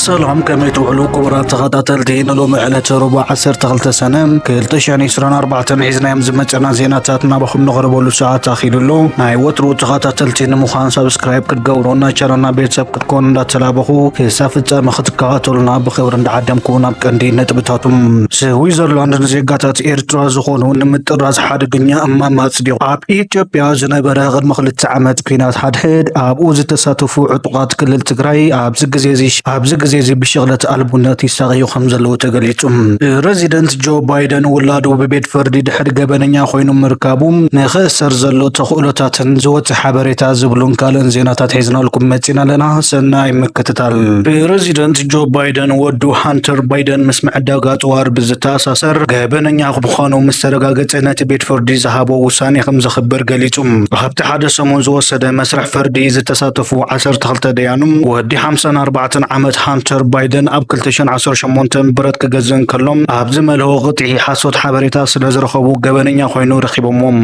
ሰላም ከመይ ትውዕሉ ክቡራት ተኸታተልቲ ንሎሚ ዕለተ ረቡዕ 12 ሰነ 2024 ሒዝናዮም ዝመፀና ዜናታት ናባኹም ንቕርበሉ ሰዓት ኣኺሉ ኣሎ ናይ ወትሩ ተኸታተልቲ ንምዃን ሰብስክራይብ ክትገብሩ ናይ ቻናልና ቤተሰብ ክትኮኑ እንዳተላበኹ ክሳብ ፍጻመ ክትከታተሉና ብኽብሪ እንዳዓደምኩ ናብ ቀንዲ ነጥብታቱም ስዊዘርላንድ ንዜጋታት ኤርትራ ዝኾኑ ንምጥራዝ ሓደገኛ እማመ ኣጽዲቑ ኣብ ኢትዮጵያ ዝነበረ ቅድሚ ክልተ ዓመት ኩናት ሓድሕድ ኣብኡ ዝተሳተፉ ዕጡቓት ክልል ትግራይ ኣብዚ ግዜ እዚ ኣብዚ ግዜ እዚ ብሽቕለት ኣልቡነት ይሳቐዩ ከም ዘለዉ ተገሊጹ። ፕረዚደንት ጆ ባይደን ውላዱ ብቤት ፍርዲ ድሕሪ ገበነኛ ኮይኑ ምርካቡ ንኽእሰር ዘሎ ተኽእሎታትን ዝወጸ ሓበሬታ ዝብሉን ካልእን ዜናታት ሒዝናልኩም መፂና ኣለና። ሰናይ ምክትታል። ፕረዚደንት ጆ ባይደን ወዱ ሃንተር ባይደን ምስ ምዕዳጋ ኣፅዋር ብዝተኣሳሰር ገበነኛ ምዃኑ ምስ ተረጋገፀ ነቲ ቤት ፍርዲ ዝሃቦ ውሳኔ ከም ዘኽብር ገሊጹ። ኣብቲ ሓደ ሰሙን ዝወሰደ መስርሕ ፍርዲ ዝተሳተፉ 12 ደያኑ ወዲ 54 ዓመት ሃንተር ባይደን ኣብ 2018 ብረት ክገዝ እንከሎም ኣብ ዝመልኦ ቅጥዒ ሓሶት ሓበሬታ ስለ ዝረኸቡ ገበነኛ ኮይኑ ረኺቦሞም።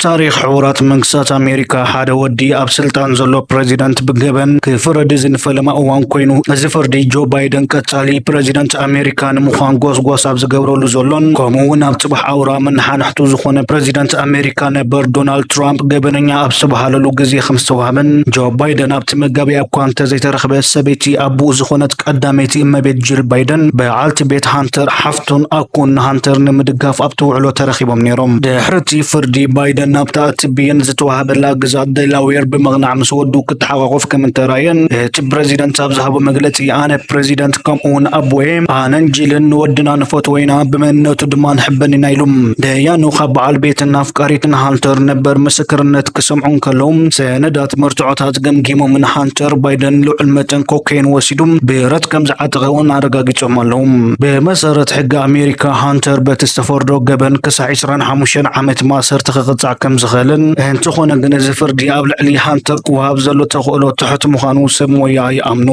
ታሪኽ ሕቡራት መንግስታት ኣሜሪካ ሓደ ወዲ ኣብ ስልጣን ዘሎ ፕረዚደንት ብገበን ክፍረድ እዚ ንፈለማ እዋን ኮይኑ እዚ ፍርዲ ጆ ባይደን ቀጻሊ ፕረዚደንት ኣሜሪካ ንምዃን ጎስጓስ ኣብ ዝገብረሉ ዘሎን ከምኡ እውን ኣብ ጽባሕ ኣውራ መናሓንሕቱ ዝኾነ ፕረዚደንት ኣሜሪካ ነበር ዶናልድ ትራምፕ ገበነኛ ኣብ ዝተባሃለሉ ግዜ ከም ዝተዋህበን ጆ ባይደን ኣብቲ መጋቢያ እኳ እንተዘይተረኽበ ሰበይቲ ኣቡኡ ዝኾነት ቀዳመይቲ እመቤት ጂል ባይደን በዓልቲ ቤት ሃንተር ሓፍቱ ቶን ኣኮን ንሃንተር ንምድጋፍ ኣብቲ ውዕሎ ተረኺቦም ነይሮም። ድሕሪ እቲ ፍርዲ፣ ባይደን ናብታ እቲ ብይን ዝተዋህበላ ግዝኣት ደላዌር ብምቕናዕ ምስ ወዱ ክተሓቛቖፍ ከም እተራእየን እቲ ፕረዚደንት ኣብ ዝሃቦ መግለጺ ኣነ ፕረዚደንት ከምኡ'ውን ኣቦ'የ፣ ኣነን ጂልን ንወድና ንፈትዎ ኢና፣ ብመንነቱ ድማ ንሕበን ኢና ኢሉ። ደያኑ ካብ በዓል ቤትን ኣፍቃሪትን ሃንተር ነበር ምስክርነት ክሰምዑ እንከለዉ፣ ሰነዳት እቲ መርትዖታት ገምጊሞምን ሃንተር ባይደን ልዑል መጠን ኮኬን ወሲዱ ብረት ከም ዝዓጠቐ እውን ኣረጋጊጾም ኣለዉ። ብመሰረት ሕጊ ኣሜሪካ ሃንተር በቲ ዝተፈርዶ ገበን ክሳዕ 25 ዓመት ማእሰርቲ ክቕጻዕ ከም ዝኽእልን እንተኾነ ግን እዚ ፍርዲ ኣብ ልዕሊ ሃንተር ክወሃብ ዘሎ ተኽእሎ ትሑት ምዃኑ ሰብ ሞያ ይኣምኑ።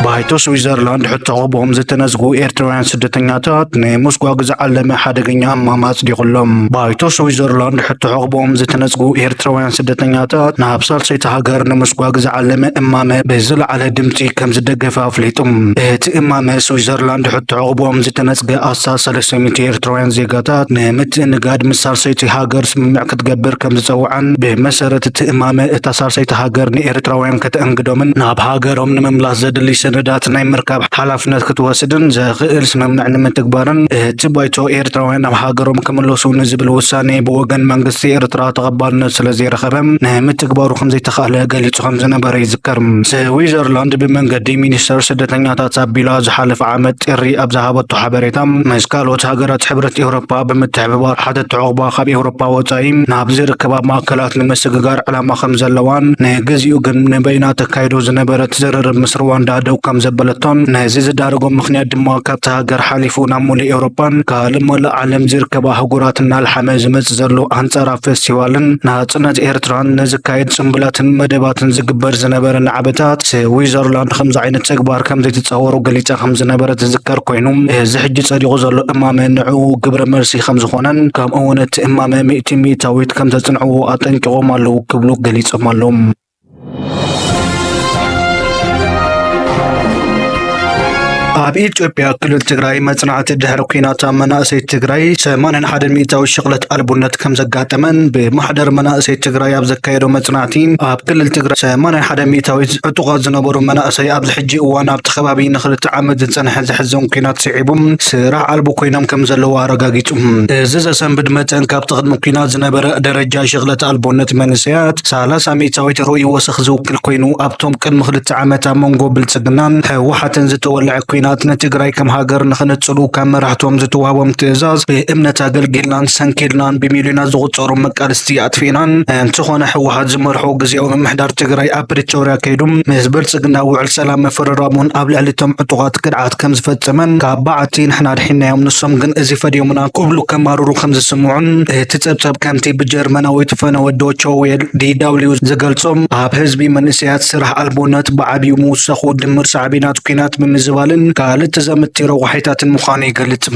ባይቶ ስዊዘርላንድ ሕቶ ቀብኦም ዝተነዝጉ ኤርትራውያን ስደተኛታት ናይ ሞስጓግ ዝዓለመ ሓደገኛ እማም ኣጽዲቑሎም ባይቶ ስዊዘርላንድ ሕቶ ዕቕብኦም ዝተነዝጉ ኤርትራውያን ስደተኛታት ናብ ሳልሰይቲ ሃገር ንምስጓግ ዝዓለመ እማመ ብዝለዓለ ድምፂ ከም ዝደገፈ ኣፍሊጡ እቲ እማመ ስዊዘርላንድ ሕቶ ዕቕብኦም ዝተነፅገ ኣስታት 300 ኤርትራውያን ዜጋታት ንምትእንጋድ ምስ ሳልሰይቲ ሃገር ስምምዕ ክትገብር ከም ዝጸውዓን ብመሰረት እቲ እማመ እታ ሳልሰይቲ ሃገር ንኤርትራውያን ከተእንግዶምን ናብ ሃገሮም ንምምላስ ዘድሊ ሰነዳት ናይ ምርካብ ሓላፍነት ክትወስድን ዘኽእል ስምምዕ ንምትግባርን እቲ ባይቶ ኤርትራውያን ናብ ሃገሮም ክምለሱ ንዝብል ውሳኔ ብወገን መንግስቲ ኤርትራ ተቐባልነት ስለ ዘይረኸበ ንምትግባሩ ከም ዘይተኻእለ ገሊጹ ከም ዝነበረ ይዝከር። ስዊዘርላንድ ብመንገዲ ሚኒስተር ስደተኛታት ኣቢላ ዝሓለፈ ዓመት ጥሪ ኣብ ዝሃበቶ ሓበሬታ ምስ ካልኦት ሃገራት ሕብረት ኤውሮፓ ብምትሕብባር ሓተቲ ዑቕባ ካብ ኤውሮጳ ወጻኢ ናብ ዝርከባ ማእከላት ንምስግጋር ዕላማ ከም ዘለዋን ንግዚኡ ግን ንበይና ተካይዶ ዝነበረት ዝርርብ ምስ ሩዋንዳ ደው ከም ዘበለቶን ነዚ ዝዳረጎም ምክንያት ድማ ካብቲ ሃገር ሓሊፉ ናብ ሙሉእ ኤውሮጳን ካልእ መላእ ዓለም ዝርከባ ኣህጉራት እናልሓመ ዝመጽእ ዘሎ ኣንጻራ ፌስቲቫልን ናጽነት ኤርትራን ንዝካየድ ጽምብላትን መደባትን ዝግበር ዝነበረ ናዕበታት ስዊዘርላንድ ከምዚ ዓይነት ተግባር ከም ዘይትጻወሮ ገሊጻ ከም ዝነበረ ዝዝከር ኮይኑ እዚ ሕጂ ጸዲቑ ዘሎ እማመ ንዕኡ ግብረ መልሲ ዘርኢ ከምዝኾነን ከምኡ እውን እቲ እማመ ሚእቲ ሚእታዊት ከምዘፅንዕዎ ኣጠንቂቖም ኣለዉ ክብሉ ገሊፆም ኣለዉ። ኣብ ኢትዮጵያ ክልል ትግራይ መፅናዕቲ ድሕሪ ኩናት ኣብ መናእሰይ ትግራይ 81 ሚእታዊ ሽቕለት ኣልቡነት ከም ዘጋጠመን ብማሕደር መናእሰይ ትግራይ ኣብ ዘካየዶ መፅናዕቲ ኣብ ክልል ትግራይ 81 ሚእታዊት ዕጡቓት ዝነበሩ መናእሰይ ኣብዚ ሕጂ እዋን ኣብቲ ከባቢ ንክልተ ዓመት ዝፀንሐ ዘሕዝን ኩናት ስዒቡ ስራሕ ኣልቦ ኮይኖም ከም ዘለዉ ኣረጋጊጹ። እዚ ዘሰንብድ መጠን ካብቲ ቅድሚ ኲናት ዝነበረ ደረጃ ሽቕለት ኣልቦነት መንእሰያት ሰላሳ ሚእታዊት ርኡይ ወሰኽ ዝውክል ኮይኑ፣ ኣብቶም ቅድሚ ክልተ ዓመት ኣብ መንጎ ብልጽግናን ህወሓትን ዝተወልዐ ኲናት ንትግራይ ከም ሃገር ንኽንጽሉ ካብ መራሕቶም ዝተዋህቦም ትእዛዝ ብእምነት ኣገልጊልናን ሰንኪልናን ብሚልዮናት ዝቑጸሩ መቃልስቲ ኣጥፊእናን እንትኾነ ህወሓት ዝመርሖ ግዝያዊ ምምሕዳር ትግራይ ኣብ ፕሪቶርያ ከይዱ ምስ ብልጽግና ውዕል ሰላም ምፍርራሙን ኣብ ልዕሊ እቶም ዕጡቓት ግድዓት ከም ዝፈጸመን ካብ በዓቲ ንሕና ኣድሒንናዮም ንሶም ግን እዚ ፈድዮምና ክብሉ ከማርሩ ከም ዝስምዑን እቲ ጸብጸብ ከምቲ ብጀርመናዊት ፈነወ ዶቸ ዌል፣ DW፣ ዝገልጾ ኣብ ህዝቢ መንእሰያት ስራሕ ኣልቦነት ብዓቢኡ ምውሳኹ ድምር ሳዕቤናት ኲናት ምምዝባልን ካልእ ተዛመድቲ ረቋሒታትን ምዃኑ ይገልጽ።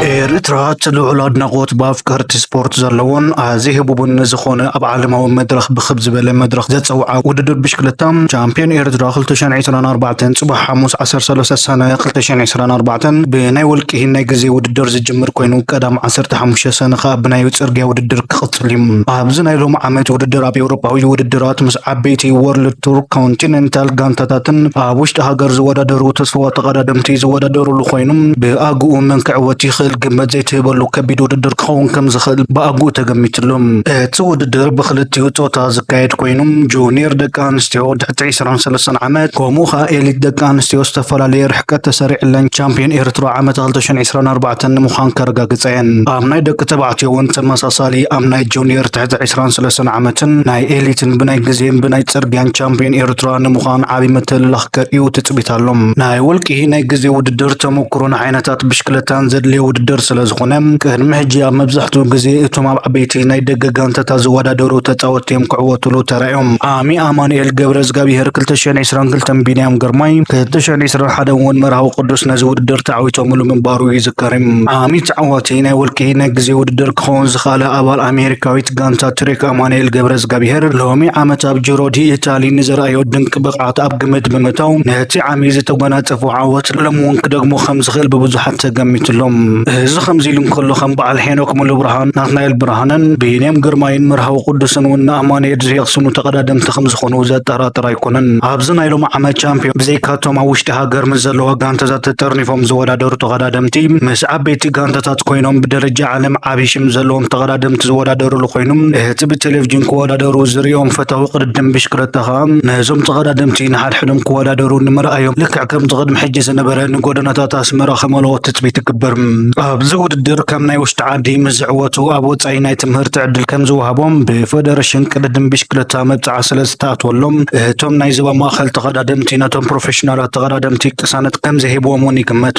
ኤርትራ ልዑል ኣድናቖት ብኣፍቀርቲ ስፖርት ዘለዎን ኣዚ ህቡብን ዝኾነ ኣብ ዓለማዊ መድረኽ ብክብ ዝበለ መድረኽ ዘፀውዓ ውድድር ብሽክለታ ቻምፒዮን ኤርትራ 2024 ፅባሕ ሓሙስ 13 ሰነ 2024 ብናይ ውልቂ ናይ ግዜ ውድድር ዝጅምር ኮይኑ ቀዳም 15 ሰነ ከዓ ብናይ ፅርግያ ውድድር ክቕፅል እዩ። ኣብዚ ናይ ሎሚ ዓመት ውድድር ኣብ ኤውሮፓዊ ውድድራት ምስ ዓበይቲ ዎርልድ ቱር ኮንቲነንታል ጋንታታትን ኣብ ውሽጢ ሃገር ዝወዳደሩ ተስፋዋ ተቐዳደምቲ ዝወዳደሩሉ ኮይኑ ብኣግኡ መን ክዕወት ይኽእል ግምት ዘይትህበሉ ከቢድ ውድድር ክኸውን ከም ዝኽእል ብኣግኡ ተገሚትሉ። እቲ ውድድር ብክልቲኡ ፆታ ዝካየድ ኮይኑ ጁኒየር ደቂ ኣንስትዮ ትሕቲ ዕስራን ሰለስተን ዓመት ከምኡ ከዓ ኤሊት ደቂ ኣንስትዮ ዝተፈላለየ ርሕቀት ተሰሪዕለን ቻምፒየን ኤርትራ ዓመተ ክልተ ሽሕን ዕስራን ኣርባዕተን ንምዃን ከረጋግፃ እየን። ኣብ ናይ ደቂ ተባዕትዮ እውን ተመሳሳሊ ኣብ ናይ ጁኒየር ትሕቲ ዕስራን ሰለስተን ዓመትን ናይ ኤሊትን ብናይ ግዜን ብናይ ጽርግያን ቻምፕዮን ኤርትራ ንምዃን ዓቢ ምትልላኽ ከርእዩ ትጽቢት ኣሎ። ናይ ውልቂ ናይ ግዜ ውድድር ተመኩሮን ዓይነታት ብሽክለታን ዘድልዮ ውድድር ስለዝኾነ፣ ቅድሚ ሕጂ ኣብ መብዛሕትኡ ግዜ እቶም ኣብ ዓበይቲ ናይ ደገ ጋንታታት ዝወዳደሩ ተጻወትቲ እዮም ክዕወትሉ ተራእዮም። ዓሚ ኣማኑኤል ገብረዝጋብሄር፣ ክልተ ሽሕን ዕስራን ክልተን ቢንያም ግርማይ፣ ክልተ ሽሕን ዕስራን ሓደን እውን መርሃዊ ቅዱስ ነዚ ውድድር ተዓዊቶምሉ ምንባሩ ይዝከር። ዓሚ ተዓዋቲ ናይ ውልቂ ናይ ግዜ ውድድር ክኸውን ዝኸኣለ ኣባል ኣሜሪካዊት ጋንታ ትሪክ ኣማኑኤል ገብረዝጋብሄር ሎሚ ዓመት ኣብ ጅሮ ዲ ኢታሊ ንዘርኣዮ ድንቂ ብቕዓት ኣብ ግምት ብምእታው ነቲ ዓሚ ዝተጎናጸፎ ዓወት ሎሚ እውን ክደግሞ ከም ዝኽእል ብብዙሓት ተገሚትሎም። እዚ ከምዚ ኢሉ እንከሎ ከም በዓል ሄኖክ ሙሉብርሃን፣ ናትናኤል ብርሃነን ብይኔም ግርማይን መርሃዊ ቅዱስን እውን ንኣማኑኤል ዘየቕስኑ ተቐዳደምቲ ከም ዝኾኑ ዘጠራጥር ኣይኮነን። ኣብዚ ናይ ሎሚ ዓመት ቻምፒዮን ብዘይካቶም ኣብ ውሽጢ ሃገር ምስ ዘለዋ ጋንታታት ተጠርኒፎም ዝወዳደሩ ተቐዳደምቲ ምስ ዓበይቲ ጋንታታት ኮይኖም ብደረጃ ዓለም ዓብዪ ሽም ዘለዎም ተቐዳደምቲ ዝወዳደሩሉ ኮይኑ እቲ ብቴሌቭዥን ክወዳደሩ ዝርእዮም ፈታዊ ቅድድም ብሽክለታ ከዓ ነዞም ተቐዳደምቲ ንሓድሕዶም ክወዳደሩ ንምርኣዮም ልክዕ ከምቲ ቅድሚ ሕጂ ዝነበረ ንጎደናታት ኣስመራ ከመልኦ ትፅቢት ይግበር። ኣብዚ ውድድር ከም ናይ ውሽጢ ዓዲ ምስ ዝዕወቱ ኣብ ወፃኢ ናይ ትምህርቲ ዕድል ከም ዝወሃቦም ብፌደሬሽን ቅድድም ብሽክለታ መብፅዓ ስለ ዝተኣትወሎም እቶም ናይ ዞባ ማእኸል ተቐዳደምቲ ነቶም ፕሮፌሽናላት ተቐዳደምቲ ቅሳነት ከም ዘይህብዎም እውን ይግመት።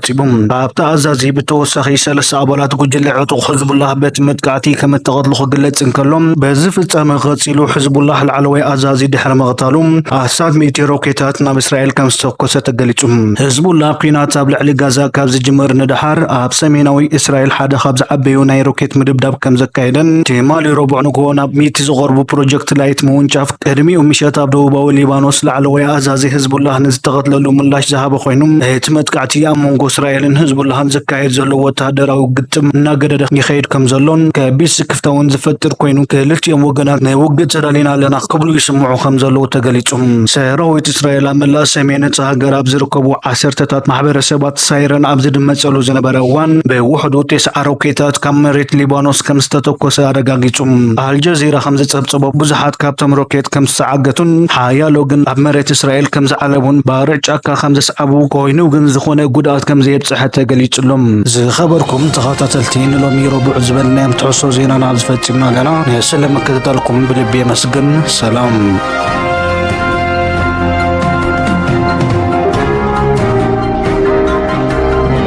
ጸብጺቦም። ኣብቲ ኣዛዚ ብተወሳኺ ሰለስተ ኣባላት ጉጅለ ዕጡቕ ሕዝቡላህ በቲ መጥቃዕቲ ከምእተቐትሉ ክግለጽ እንከሎ፣ በዚ ፍጻመ ቀጺሉ ሕዝቡላህ ላዕለዋይ ኣዛዚ ድሕሪ ምቕታሉ ኣስታት ሚእቲ ሮኬታት ናብ እስራኤል ከምዝተኮሰ ተገሊጹ። ሕዝቡላህ ኲናት ኣብ ልዕሊ ጋዛ ካብ ዝጅምር ንደሓር ኣብ ሰሜናዊ እስራኤል ሓደ ካብ ዝዓበዩ ናይ ሮኬት ምድብዳብ ከምዘካየደን ትማሊ ረቡዕ ንግሆ ናብ ሚእቲ ዝቐርቡ ፕሮጀክት ላይት ምውንጫፍ ቅድሚኡ ምሸት ኣብ ደቡባዊ ሊባኖስ ላዕለዋይ ኣዛዚ ህዝቡላህ ንዝተቐትለሉ ምላሽ ዝሃበ ኮይኑ እቲ መጥቃዕቲ ኣብ መንጎ እስራኤልን ህዝቡላህን ዝካየድ ዘሎ ወተሃደራዊ ግጥም እናገደደ ይኸይድ ከም ዘሎን ከቢድ ስክፍታ እውን ዝፈጥር ኮይኑ ክልቲኦም ወገናት ንውግእ ተዳሊና ኣለና ክብሉ ይስምዑ ከም ዘለዉ ተገሊጹ። ሰራዊት እስራኤል ኣብ መላእ ሰሜን እታ ሃገር ኣብ ዝርከቡ ዓሰርተታት ማሕበረሰባት ሳይረን ኣብ ዝድመጸሉ ዝነበረ እዋን ብውሕዱ ቴስዓ ሮኬታት ካብ መሬት ሊባኖስ ከም ዝተተኮሰ ኣረጋጊጹ። ኣመልኪቱ። ኣልጀዚራ ከም ዝጸብጸቦ ብዙሓት ካብቶም ሮኬት ከም ዝተዓገቱን ሓያሎ ግን ኣብ መሬት እስራኤል ከም ዝዓለቡን ባርዕ ጫካ ከም ዘስዓቡ ኮይኑ ግን ዝኾነ ጉድኣት ከም ዘየብጽሐ ተገሊጹሎም። ዝኸበርኩም ተኸታተልቲ ንሎሚ ረቡዕ ዝበልናዮም ትሕሶ ዜናና ኣብዚ ፈጺምና ኣለና። ንስለ ምክትታልኩም ብልቢ የመስግን። ሰላም።